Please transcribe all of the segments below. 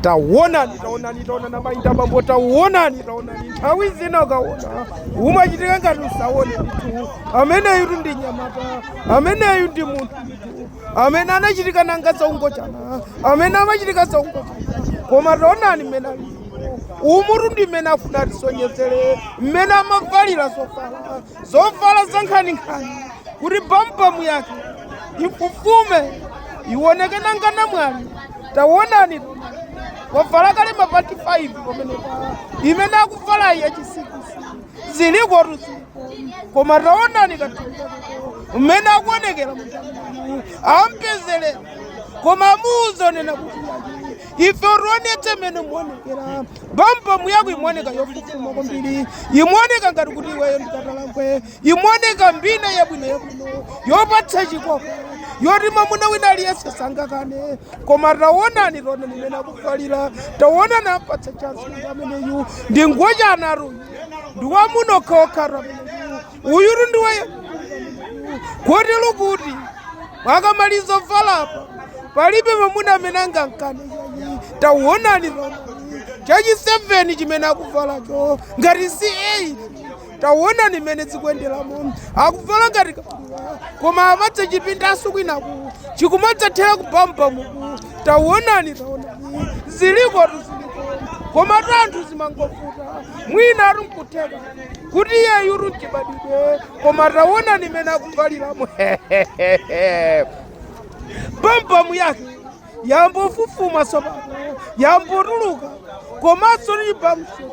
tawonani tawonani tawonani amayi ndi abambo tawonani tawonani nthawi zina ukawona umachitika ngati usawone ndithu ameneyutu ndi mnyamata ameneyu ndi munthu ndithu amene anachitika nanga zaungochana amene amachitika zaungochana koma tawonani mmene ali umutu ndi mmene afuna atisonyezere mmene amavalira zovala zovala zankhaninkhani kuti bambamu yake ifufume iwoneke nanga namwali tawonani wavala kale mapanti 5 pamenepa imene akuvalayi yachisikisi zilikotu ziliko koma tawonani kathunzako mmene akuonekera munthu ampezere koma amuuza zonena kuti ife utionetse mmene imaonekera bambamu yako imaoneka yofufuma kwambiri imaoneka ngati kuti iweyo ndi katakwe imaoneka mbina yabwino yabwino yopatsa chikoka yoti mwamuna wina aliyense sangakane koma taonani taonani mmene akuvalira taonani ampatsa chansi ameneyu ndi ngochanatu ndi wa amuna okhaokhatu ameneyu uyutu ndi waye kotero kuti akamaliza kuvalapa palibe mamuna amene angamkane tawonani pano chachi 7 chimene akuvalacho ngati si 8 tawonani mmene zikuyenderamo akuvala ngati kabuwa koma amadzachipindanso kwinaku chikumadzathera kubambamuku tawonani tawonani zilikotu ziliko komatu anthu zimangovuta mwinatu nkutheka kuti iyeyutu nchibadwidwe koma taonani mmene akuvaliramo bambamu yake yambofufuma tsopano yambotuluka komanso lili pamsoti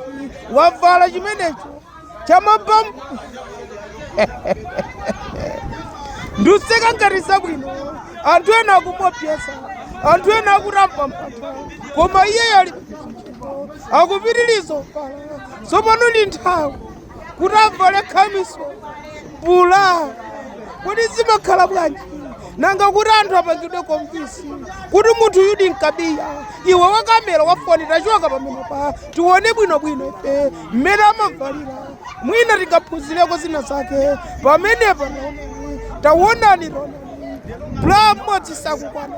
wavala chimenecho chabambamu nkuseka ngati zabwino anthu ena akumuopseza anthu ena akutamba mpata koma iyeyo ali akupitiriza kuvala tsopano ndi nthawi kuti avale khamiso bula kodi zimakhala bwanji nanga kuti anthu apangidwe convince kuti munthuyudi mkabiya iwe wakamera wafoni tachoka pamenepa tione bwinobwino ife mmene amavalira mwina tingaphunzireko zina zake pamenepa taonani taonani taonani bula mmodzi sakukwana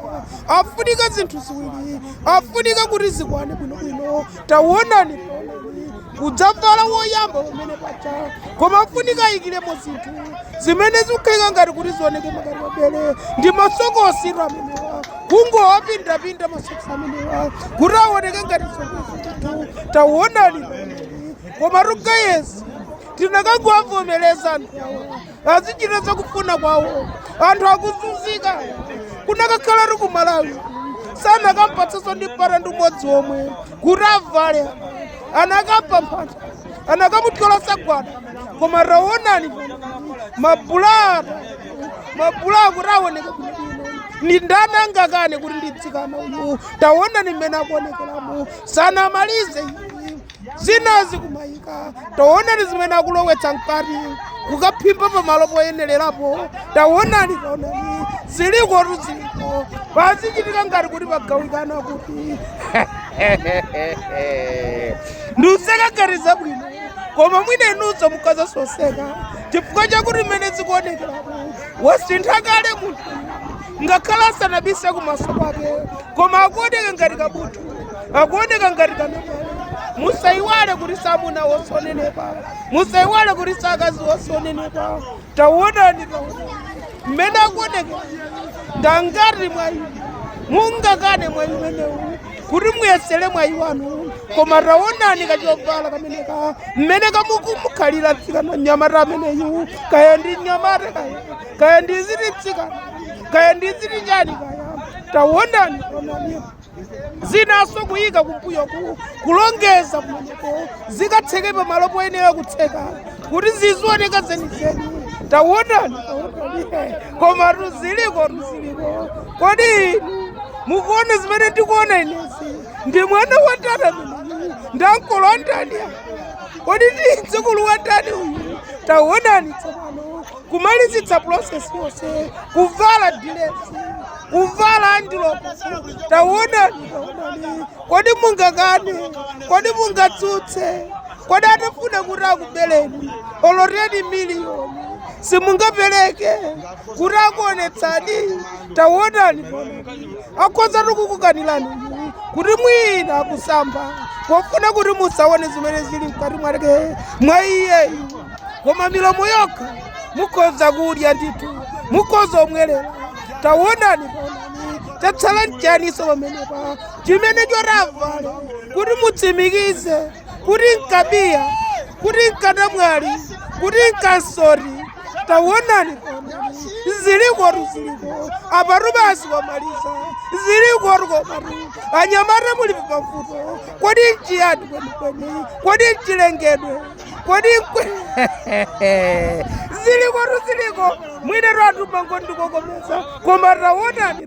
afunika zinthu ziwiri afunika kuti zikwane bwinobwino tawonani taonani kudzavala woyamba amene paja koma afunika ayikiremo zinthu zimene zikukhalika ngati kuti zioneke ngati mabele ndi masokositu amenewa kungowapindapinda masokosi amenewa kuti aoneke ngati zinthu tawonani taonani komatu guys tinakangowavomereza anthu awa azichita zakufuna kwawo anthu akuzunzika kunakakhala kuti ku malawi sanakampatsaso ndi mpata ndi umodzi omwe kuti avale anakapha mphata anakamutyola sagwada koma taonani mabulaa mabulaa kuti aoneke ni ndani angakane kuti ndi tsikana uyu taonani mmene akuonekeramo sanamalize zinazi kumayika taonani zimene akulowetsa mkati kukaphimba pamalo poyenelerapo taonani taonani zilikotu ziliko pazichitika ngati kuti pagawikana kuti nduseka ngati zabwino koma mwina inunso mukhozaso kuseka chifukwa chakuti mmene zikuonekerapo wasintha kale munthu ngakhale asanabise kumaso kwake koma akuoneka ngati kabuthu akuoneka ngati kamene musaiwale kuti samuna wosanenepa musaiwale kuti sakazi wosanenepa tawonani mmene akuoneka ngangati mwayi mungakane mwayi umenewu kuti muyesere mwayi wanu koma tawonani kachovala kameneka mmene kakumukhalira tsikana nyamata ameneyu kaya ndi nyamata kaya kaya ndi ziti tsikana kaya ndi ziti chani kaya tawonani onani zinanso kuyika kumbuyo ku- kulongeza kumeneko zikatseke pamalo poyenera kutseka kuti zizioneka zenizeni tawonani tawonani komatu zilikotu ziliko kodi inu mukuona zimene ndikuona inezi ndi mwana wa ndani ameneyu ndi ankolo a ndani kodi ndi mdzukulu wa ndani uyu tawonani tsopano kumalizitsa process yonse kuvala dilesi kuvala andiloko tawonani tawonani kodi mungakane kodi mungatsutse kodi atafuna kuti akubeleni olo teni miliyoni simungapereke kuti akuonetsani tawonani tawonani akhozatu kukukanirani kuti mwina kusamba pofuna kuti musaone zimene zili mkati mwake mwa iyeyu koma milomo yokha mukhoza kudya ndithu mukhoza kumwerera tawonani onani chatsala mchaniso pamenepa chimene choti avale kuti mutsimikize kuti mkabiya kuti mkanamwali kuti mkansoti tawonani onani zilikotu ziliko apatu basi wamaliza zilikotu komatu anyamata muli pavuto kodi mchiyani kwenikweni kodi mchilengedwe kodi nkwe zilikotu ziliko mwinatu anthu mango ndikokomeza koma tawonani